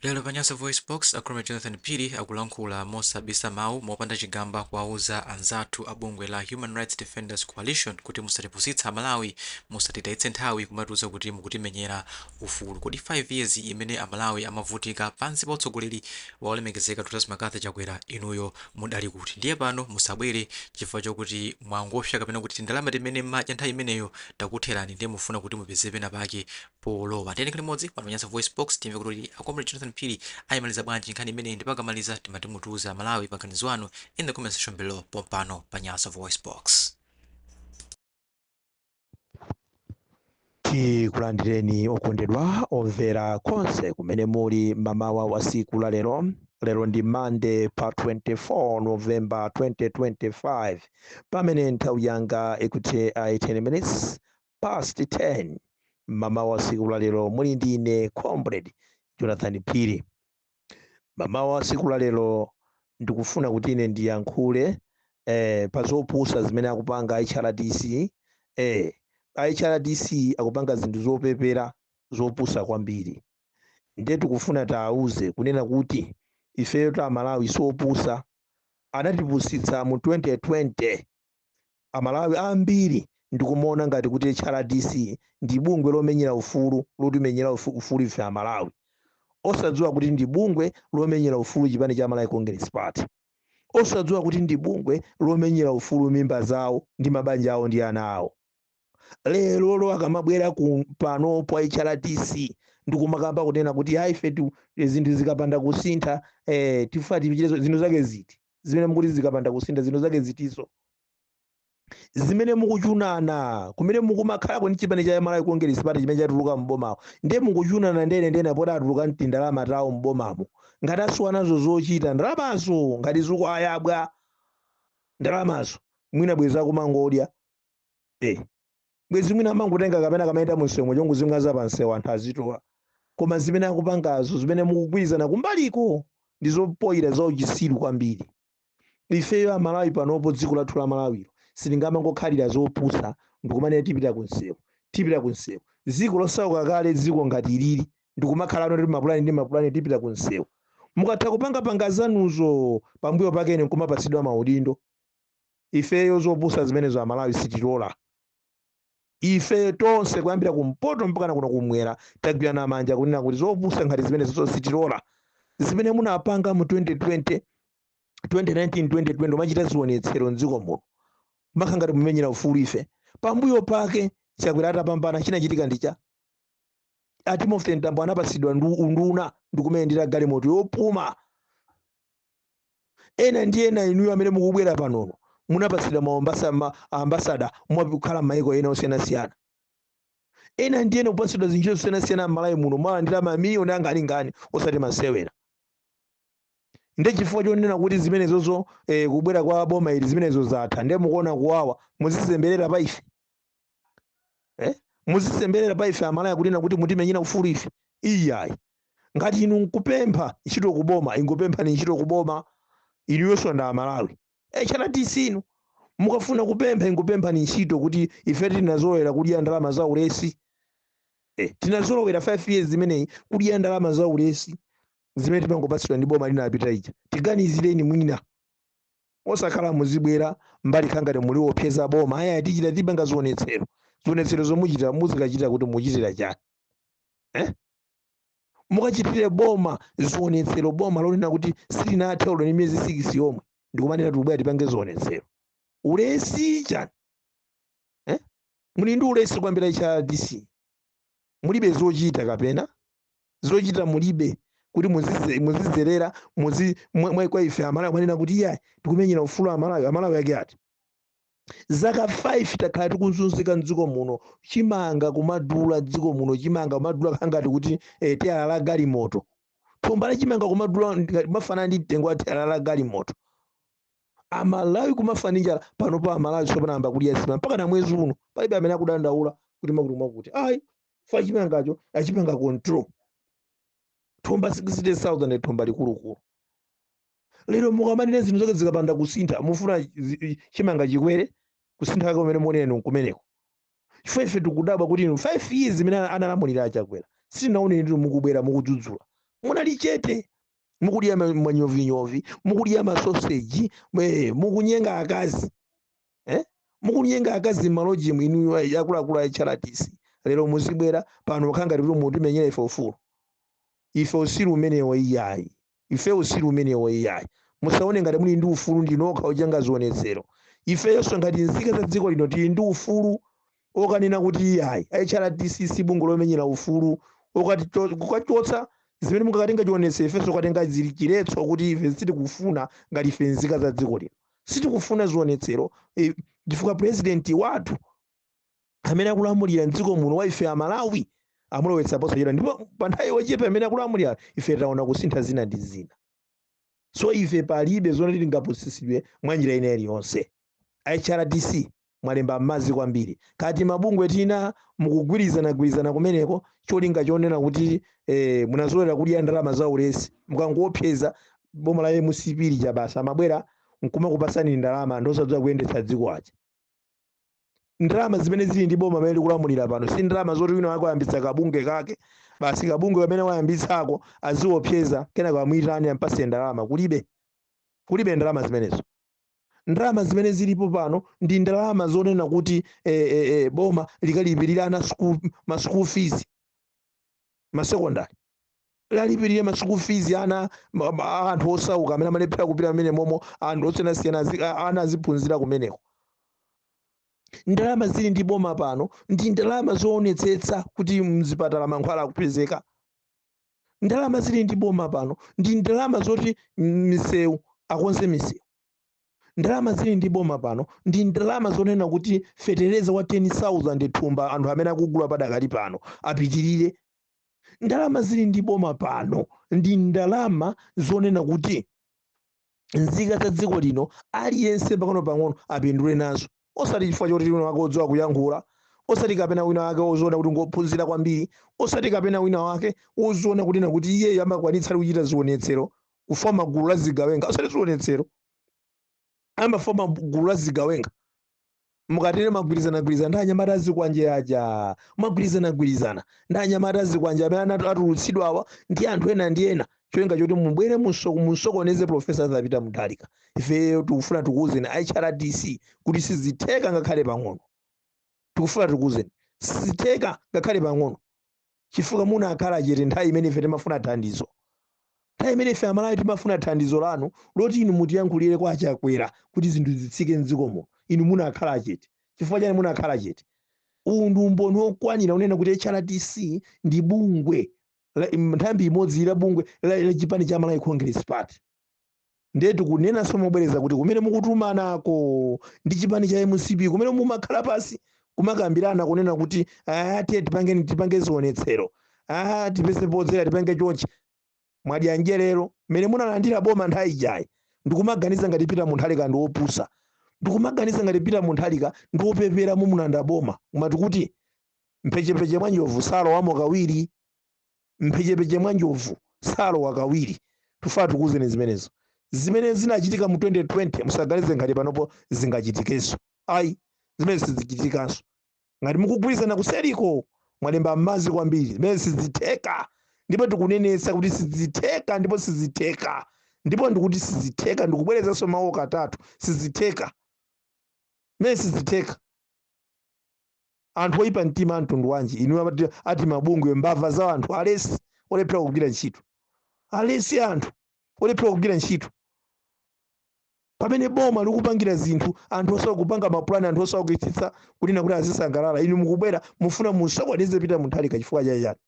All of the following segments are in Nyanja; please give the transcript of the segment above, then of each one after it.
Lero pa Nyasa VoiceBox, a Comrade Jonathan Phiri akulankhula mosabisa mawu, mopanda chigamba kuwauza anzathu a bungwe la Human Rights Defenders Coalition kuti musatipusitse aMalawi, musatitayitse nthawi kumatiuza kuti mukutimenyera ufulu. Kodi 5 years imene aMalawi amavutika pansi pa utsogoleri wa Olemekezeka Dr McCarthy Chakwera inuyo mudali kuti? Ndiye pano musabwere chifukwa chokuti mwangopsa kapena kuti tindalama timene mmadya nthawi imeneyo takutherani ndiye mufuna kuti mupeze pena pake polowa. Tiyeni tikhale limodzi pano pa Nyasa VoiceBox timve kuti a Comrade Jonathan Phiri ayimaliza bwanji nkhani imeneyi ndipo akamaliza timati mutiuze aMalawi maganizo anu in the comment section below pompano pa Nyasa VoiceBox. tikulandireni okondedwa omvera konse kumene muli mamawa wa siku la lero lero ndi Monday pa 24 november 2025 pamene nthawi yanga ikuti 18 minutes past 10 mamawa a siku la lero muli ndi ine comrade jonathan phiri mamawa a siku la lero ndikufuna kuti ine ndiyankhule eh, pa zopusa zimene akupanga hrdc eh, hrdc akupanga zinthu zopepera zopusa kwambiri ndiye tikufuna tiwauze kunena kuti ifeyo aMalawi siopusa anatipusitsa mu 2020 Amalawi ambiri ndikumaona ngati kuti HRDC ndi bungwe lomenyera ufulu lotimenyera ufu- ufulu ife Amalawi, osadziwa kuti ndi bungwe lomenyera ufulu chipani cha Malawi Congress Party, osadziwa kuti ndi bungwe lomenyera ufulu mimba zawo ndi mabanja awo ndi ana awo. lerolo akamabwera pano pa HRDC ndikumakamba kunena kuti ayi ife tu- zinthu zikapanda kusintha eh, tifuna tichite izo zinthu zake ziti zimene mukuti zikapanda kusintha zinthu zake zitizo zimene mukuchunana kumene mukumakhalako ndi chipani cha malawi congress party chimene chatuluka m'bomawo ndiye mukuchunana ndene ndene poti atuluka ndi ndalama tawo m'bomamo ngati asiwa nazo zochita ndalamazo ngati zikuwayabwa ndalamazo mwina bweza kumangodya eh bwezi mwina amangotenga kapena kamayenda munsewu nkungozimwaza pansewu anthu azitola koma zimene akupangazo zimene mukugwirizana kumbaliko ndi zopoyira za uchisiru kwambiri ifeyo amalawi panopo dziko lathu la malawilo sitingamangokhalira zopusa ndikumanena tipita kunsewu tipita kunsewu dziko losauka kale dziko ngati ilili ndikumakhala kuti mapulani ndi mapulani tipita kunsewu mukatha kupanga panga zanuzo pambuyo pakene nkumapatsidwa maudindo ifeyo zopusa zimenezo amalawi sitilola ife tonse kuyambira kumpoto mpakana kuno kumwera tagwirana manja kunena kuti zopusa ngati zimenezo zonse sitilola zimene munapanga mu 2019 2020 mumachita zionetsero mdziko muno mpaka ngati mumenyera ufulu ife pambuyo pake chakwera atapambana chinachitika ndi cha a timothy mtambo anapatsidwa ndu- unduna ndikumayendera galimoto yopuma ena ndi ena inuyo amene mukubwera panono munapatsidwa maombasa ma ambasada mwakukhala m'mayiko ena osiyanasiyana ena ndi ena kupatsidwa zintchito zosiyanasiyana m'malawi muno mwalandira mamiliyoni angalingani osati masewera nde chifukwa chonena kuti zimenezozo eh, kubwera kwa boma ili zimenezo zatha ndiye mukuona kuwawa muzizemberera pa ife eh? muzizemberera pa ife amalawi kunena kuti mutimenyera ufulu ife iyayi ngati inu nkupempha ntchito kuboma ingopemphani ntchito kuboma inuyonso ndi amalawi hrdc inu mukafuna kupempha ingopemphani ntchito kuti ife tinazolowera kudya ndalama za ulesi eh, tinazolowera 5 years zimeneyi kudya ndalama za ulesi zimene timangopatsidwa ndi boma linapita lija tiganizireni mwina osakhala muzibwera mbali kukhala ngati mukuwopseza boma aya tichita tipanga zionetsero zionetsero zomwe muchita muzikachita kuti muchitira chani eh? mukachitire boma zionetsero boma lonena kuti silinathe olo ndi miyezi 6 yomwe ndikumanena tikubwera tipange zionetsero ulesi chani eh? muli ndi ulesi kwambiri a hrdc mulibe zochita kapena zochita mulibe kuti muzidze- muzidzera muzi mwa mwa- kwa ife amalawi kumanena kuti iyayi tikumenyera ufulu amalawi amalawi ake ati zaka 5 takhala tikuzunzika mdziko muno chimanga kumadula mdziko muno chimanga kumadula kukhala ngati kuti eh, teyala la galimoto thumba la chimanga kumadula kumafanana ndi mtengo wa teyala la galimoto amalawi kumafa ndi njala panopo amalawi tsopano anayamba kudya nsima mpaka na mwezi uno palibe amene akudandaula kuti makuti mwakuti ayi chifukwa chimangacho achipanga control thumba 60000 thumba likulukulu lero mukamanena zinthu zati zikapanda kusintha mufuna zi- i- chimanga chikwere kusintha kwake kumene mukunena inu kumeneko chifukwa ife tikudabwa kuti inu 5 years imene ana- analamulira a chakwera sitinaone inu mukubwera mukudzudzula munali chete mukudya ma- manyovinyovi mukudya masoseji mwe- mukunyenga akazi eh? mukunyenga akazi mmalojimu inu a- akuluakulu a hrdc lero muzibwera pano kukhala ngati mutimenyera ife ufulu ife utsiru umenewo iyayi ife utsiru umenewo iyayi musaone ngati muli ndi ufulu ndinokha opanga zionetsero ifeyonso ngati nzika za dziko lino tili ndi ufulu okanena kuti iyayi hrdc si bungwe lomenyera ufulu okati- kukachotsa zimene mukakatenga chilolezo ifenso tikatenga zili chiletso kuti ife sitikufuna ngati ife nzika za dziko lino sitikufuna zionetsero eh, chifukwa purezidenti wathu amene akulamulira mdziko muno wa ife amalawi tamulowetsa posachedwa ndipo pa nthawi yochepa imene akulamulira ife taona kusintha zina ndi zina so ife palibe zoti tingapusitsidwe mwa njira ina iliyonse hrdc mwalemba m'madzi kwambiri kaya timabungwe tina mukugwirizanagwirizana kumeneko cholinga chonena kuti eh, munazolera kudya ndalama za ulesi mukangoopseza boma la mcp lija basi amabwera nkumakupasani ndalama ndi osadziwa kuyendetsa dziko aja ndalama zimene zili ndi boma amene likulamulira pano si ndalama zoti wina wake wayambitsa kabunge kake basi kabunge kamene wayambitsako aziopseza kenako amuyitane ampase ndalama kulibe kulibe ndalama zimenezo Ndalama zimene zilipo pano ndi ndalama zonena kuti e, e, e, boma likalipirira ana ma school fees ma secondary lalipirire ma school fees ana ma- ma- anthu osauka amene amalephera kupita amene momo anthu osiyanasiyana azi- a- ana aziphunzira kumeneko. Ndalama zili ndi boma pano ndi ndalama zoonetsetsa kuti mzipatala mankhwala akupezeka. ndalama zili ndi boma pano ndi ndalama zoti misewu akonze misewu ndalama zili ndi boma pano ndi ndalama zonena kuti fetereza wa 10000 thumba anthu amene akugula padakali pano apitirire ndalama zili ndi boma pano ndi ndalama zonena kuti nzika za dziko lino aliyense pang'onopang'ono apindule nazo osati chifukwa choti wina wake odziwa kuyankhula osati kapena wina wake oziona kuti ngophunzira kwambiri osati kapena wina wake oziona kunena kuti iyeyo amakwanitsa ali kuchita zionetsero kufoma gulu la zigawenga osati zionetsero amafoma gulu la zigawenga mukatero magwirizanagwirizana ndi anyamata azikwanje aja magwirizanagwirizana ndi anyamata azikwanje amene anatu- atulutsidwawa ndi anthu ena ndi ena cholinga choti mubwere musoko- musokoneze profesa Arthur Peter Mutharika ife tikufuna tikuwuzeni hrdc kuti sizitheka ngakhale pang'ono tikufuna tikuwuzeni sizitheka ngakhale pang'ono chifukwa munakhala chete nthawi imene ife timafuna thandizo nthawi imene ife amalawi timafuna thandizo lanu loti inu mutiyankhulire kwa achakwera kuti zinthu zitsike mdziko muno inu munakhala chete chifukwa chani munakhala chete uwu ndi umboni wokwanira kunena kuti hrdc ndi bungwe la- im- nthambi imodzi la bungwe la la chipani cha malawi congress party ndiye tikunenanso mobwereza kuti kumene mukutumanako ndi chipani cha mcp kumene mumakhala pasi kumakambirana kunena kuti "Ah, tiye tipange tipange zionetsero "Ah, tipeze podzera tipange chonchi mwadya njerero mmene munalandirira boma nthawi ijayi ndikumaganiza ngati Peter Mutharika ndi wopusa ndikumaganiza ngati Peter Mutharika ndi wopepera mumulanda boma amati kuti mphechepeche mwa njovu salowamo kawiri mphechepeche mwa njovu salowa kawiri tufuna tikuwuzeni zimenezo zimene zinachitika mu 2020 musaganize ngati panopo zingachitikenso ayi zimene sizichitikanso ngati mukugwirizana kuseriko mwalemba m'madzi kwambiri zimene sizitheka ndipo tikunenetsa kuti sizitheka ndipo sizitheka ndipo ndikuti sizitheka ndikubwerezanso mawu katatu sizitheka zimene sizitheka anthu oyipa mtima a mtundu wanji inu ati mabungwe mbava za anthu alesi olephera kugwira ntchito alesi anthu olephera kugwira ntchito pamene boma likupangira zinthu anthu osawa kupanga mapulani anthu osawa kuitsitsa kunena kuti azisangalala inu mukubwera mufuna musokoneze Peter Mutharika chifukwa chachani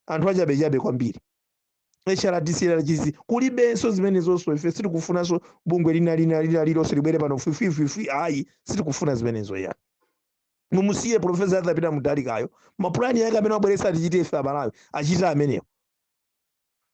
anthu achabechabe kwambiri HRDC LRGC kulibenso zimenezonso ife sitikufunanso bungwe lina lina lina lilonse libwere pano fwifwifwifwi ayi sitikufuna zimenezo ya mumusiye profesa Arthur Peter Mutharikayo mapulani yake amene wabweretsa atichite ife amalawi achite amenewo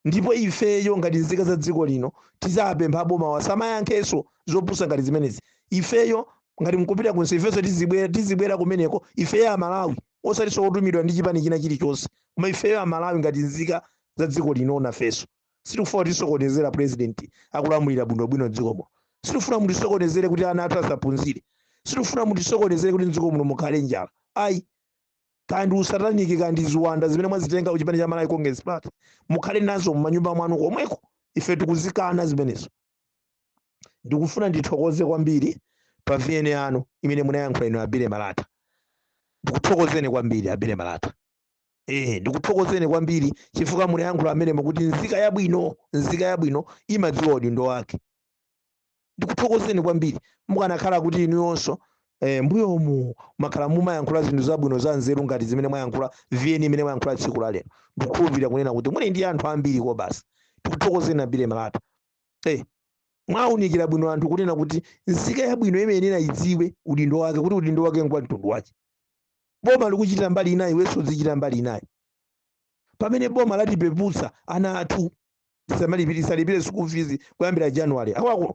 ndipo ifeyo ngati nzika za dziko lino tizapempha boma lisamayankhenso zopusa ngati zimenezi ifeyo ngati mkupita kunse ifenso tizibwera tizibwera kumeneko ifeyo amalawi osatinso otumidwa ndi chipani china chilichonse koma ifeyo amalawi ngati nzika za dziko lino nafeso sitikufuna mutisokonezere president akulamulira bwinobwino dziko muno sitikufuna mutisokonezere kuti ana athu asaphunzire sitikufuna mutisokonezere kuti mdziko muno mukhale njala ayi kandi usataniki kandi ziwanda zimene mwazitenga ku chipani cha malawi congress party mukhale nazo mumanyumba mwanu komweko ife tikuzikana zimenezo ndikufuna ndithokoze kwambiri pa vn yanu imene munayankhula inu abile malata ndikuthokozeni kwambiri abile malata ehe ndikuthokozeni kwambiri chifukwa munayankhula amenemo kuti nzika yabwino nzika yabwino imadziwa udindo wake ndikuthokozeni kwambiri mukanakhala kuti inuyonso eh, mbuyomu mwakhala mumayankhula zinthu zabwino za nzeru ngati zimene mwayankhula vn imene mwayankhula tsiku la lero ndikukhulupirira kunena kuti muli ndi anthu ambiri kobasi ndikuthokozeni abile malata eh, mwaunikira bwino anthu kunena kuti nzika yabwino imayenera idziwe udindo wake kuti udindo wake ngwa mtundu wake boma likuchita mbali inayi iwenso uzichita mbali inayi pamene boma latipeputsa ana athu tisalipire school fees kuyambira january wa kuno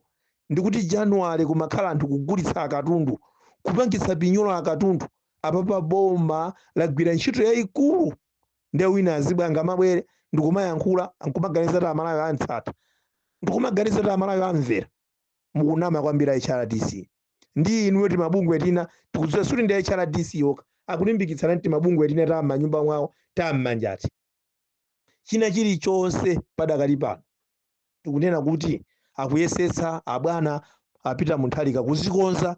ndikuti january kumakhala anthu kugulitsa akatundu kupangitsa pinyolo akatundu apapa boma lagwira ntchito yayikulu nde wina azibwera ngamabwere ndikumayankhula nkumaganiza kuti amalawi amtsata ndikumaganiza kuti amalawi amvera mukunama kwambiri a hrdc ndi inuyo timabungwe tina tikudziwa sikuti ndi hrdc yokha akulimbikitsana ndi timabungwe tina ta m'manyumba mwawo ta m'manjati china chilichonse padakali pano tikunena kuti akuyesetsa abwana a Peter Mutharika kuzikonza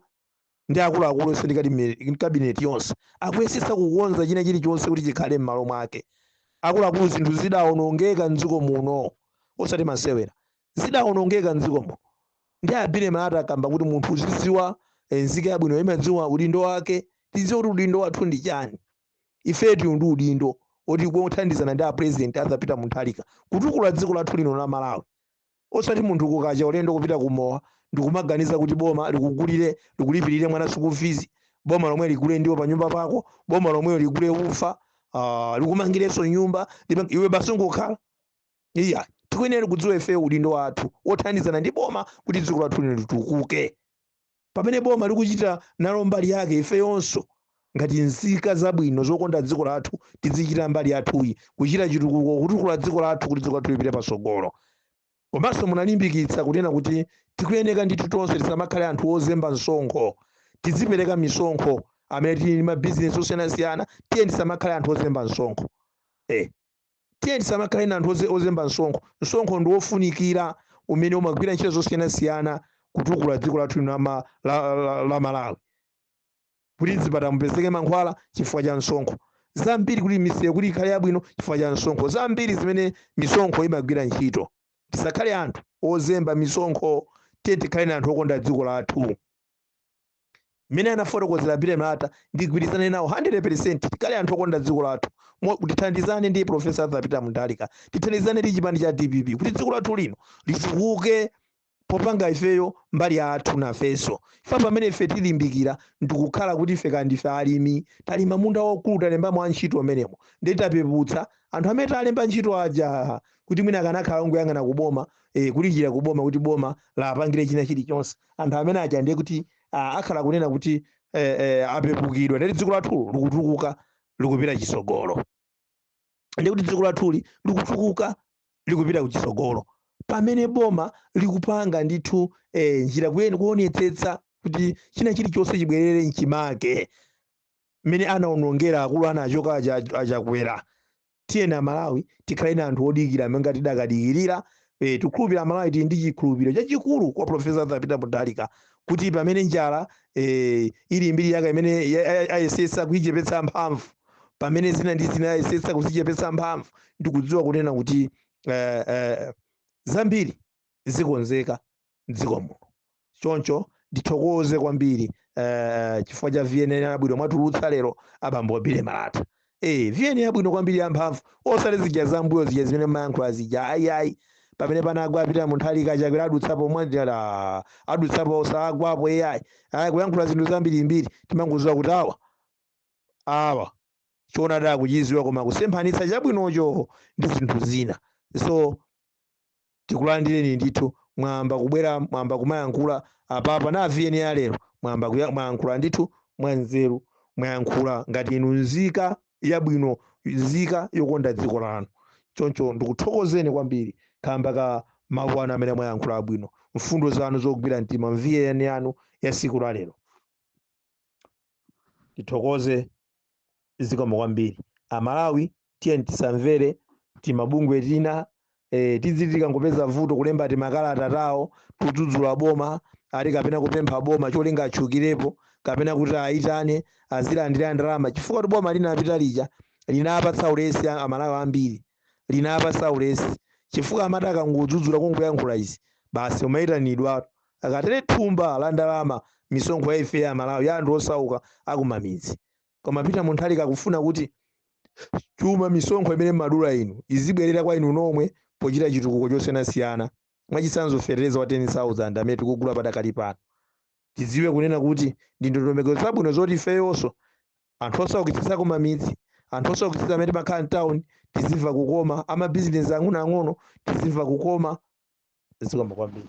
ndi akuluakulu onse ndi kadimi- kabineti yonse akuyesetsa kukonza china chilichonse kuti chikhale m'malo mwake akuluakulu zinthu zidaonongeka mdziko muno osati masewera zidaonongeka mdziko muno ndi a Billy Malata akamba kuti munthu uzidziwa eh, nzika yabwino imadziwa udindo wake tidziwe kuti udindo wathu ndi chani ife tili ndi udindo oti kuthandizana ndi apresident Arthur Peter Mutharika kutukula dziko lathu lino la malawi osati munthu kukacha ulendo kupita kumowa ndikumaganiza kuti boma likugulire likulipirire mwana school fees boma lomwe ligule ndiwo pa nyumba pako boma lomwe ligule ufa ah, likumangirenso nyumba lima- iwe basi ungokhala iya tikuyenera kudziwa ife udindo wathu wothandizana ndi boma kuti dziko lathu lino litukuke pamene boma likuchita nalo mbali yake ifeyonso ngati nzika zabwino zokonda dziko lathu tizichita mbali yathuyi kuchita chitukuko kutukula dziko lathu kuti dziko lathu lipite patsogolo komanso munalimbikitsa kunena kuti tikuyeneka ndithu tonse tisamakhale anthu ozemba msonkho tizipereka misonkho amene tili ndi mabizinesi osiyanasiyana tiye tisamakhale anthu ozemba msonkho eh tiye tisamakhale na anthu oze- ozemba msonkho msonkho ndi wofunikira umene umagwira ntchito zosiyanasiyana kutukula dziko lathu lino la ma- la- la- la malawi kuti mzipatala mupezeke mankhwala chifukwa cha msonkho zambiri kuti misewu kuti ikhale yabwino chifukwa cha msonkho zambiri zimene misonkho imagwira ntchito tisakhale anthu ozemba misonkho tiye tikhale na anthu okonda dziko lathu mmene anafotokozera a Billy Malata ndigwirizane nawo 100% tikhale anthu okonda dziko lathu Mo- tithandizane ndi profesa Arthur Peter Mutharika tithandizane ndi chipani cha DPP kuti dziko lathu lino litukuke popanga ifeyo mbali yathu nafenso ife pamene ife tilimbikira ndikukhala kuti ife kaya ndife alimi talima munda waukulu talembamo antchito amenemo ndiye tapeputsa anthu amene talemba ntchito aja kuti mwina akanakhala ongoyang'ana kuboma e, kulilira ku boma kuti boma liwapangire china chilichonse anthu amene aja ndiye kuti a, akhala kunena kuti e, e, apepukidwa ndiye kuti dziko lathu likutukuka likupita chitsogolo ndiye kuti dziko lathuli likutukuka likupita kuchitsogolo pamene boma likupanga ndithu e, njira kuyeni kuonetsetsa kuti china chilichonse chibwerere mchimake mmene anaonongera akulu anachoka aja a Chakwera tiyeni amalawi tikhale na anthu odikira monga tidakadikirira eh, tikhulupira amalawi tili ndi chikhulupiro chachikulu kwa profesa arthur peter mutharika kuti pamene njala eh, ili mbiri yake imene ya- ya- ayesetsa kuichepetsa mphamvu pamene zina ndi zina ayesetsa kuzichepetsa mphamvu ndikudziwa kunena kuti eh, eh, zambiri zikonzeka m'dziko muno choncho ndithokoze kwambiri eh, chifukwa cha vn yabwino mwatulutsa lero abambo a Billy Malata eh, vn yabwino kwambiri yamphamvu osati zija zambuyo zija zimene mayankhula zija ayiayi pamene panagwa a Peter Mutharika Chakwera adutsapo mwandira adutsapo osagwapo ai ayi kuyankhula zinthu zambirimbiri timangoziwa kuti awa awa choonadi akuchiziwa koma kusemphanitsa chabwinocho ndi zinthu zina so tikulandireni ndithu mwayamba kubwera mwayamba kumayankhula apapa na VN ya lero mwayamba kuya- mwayankhula ndithu mwanzeru mwayankhula ngati inu nzika yabwino nzika yokonda dziko lanu choncho ndikuthokozeni kwambiri kamba ka mawu anu amene mwayankhula abwino mfundo zanu zogwira mtima mu VN yanu ya siku la lero tithokoze zikomo kwambiri amalawi tiyeni tisamvere timabungwe tina eh, tiziti tikangopeza vuto kulemba timakalata tawo kudzudzula boma ati kapena kupempha boma cholinga atchukirepo kapena kuti awayitane azilandira ndalama chifukwa kuti boma linapita lija linapatsa ulesi a- amalawi ambiri linapatsa ulesi chifukwa amati akangudzudzula kungoyankhula izi basi umayitanidwa akatere thumba la ndalama misonkho ya ife a Malawi ya anthu osauka akumamidzi koma Peter Mutharika akufuna kuti chuma misonkho imene mumadula inu izibwerera kwa inu nomwe pochita chitukuko chosiyanasiyana mwachitsanzo fetereza wa 10000 amene tikugula padakali pano tidziwe kunena kuti ndi ndondomeko zabwino zoti ifeyonso anthu osaukitsitsa kumamidzi anthu osaukitsitsa amene timakhala mtown tizimva kukoma amabizinesi ang'onoang'ono tizimva kukoma zikomo kwambiri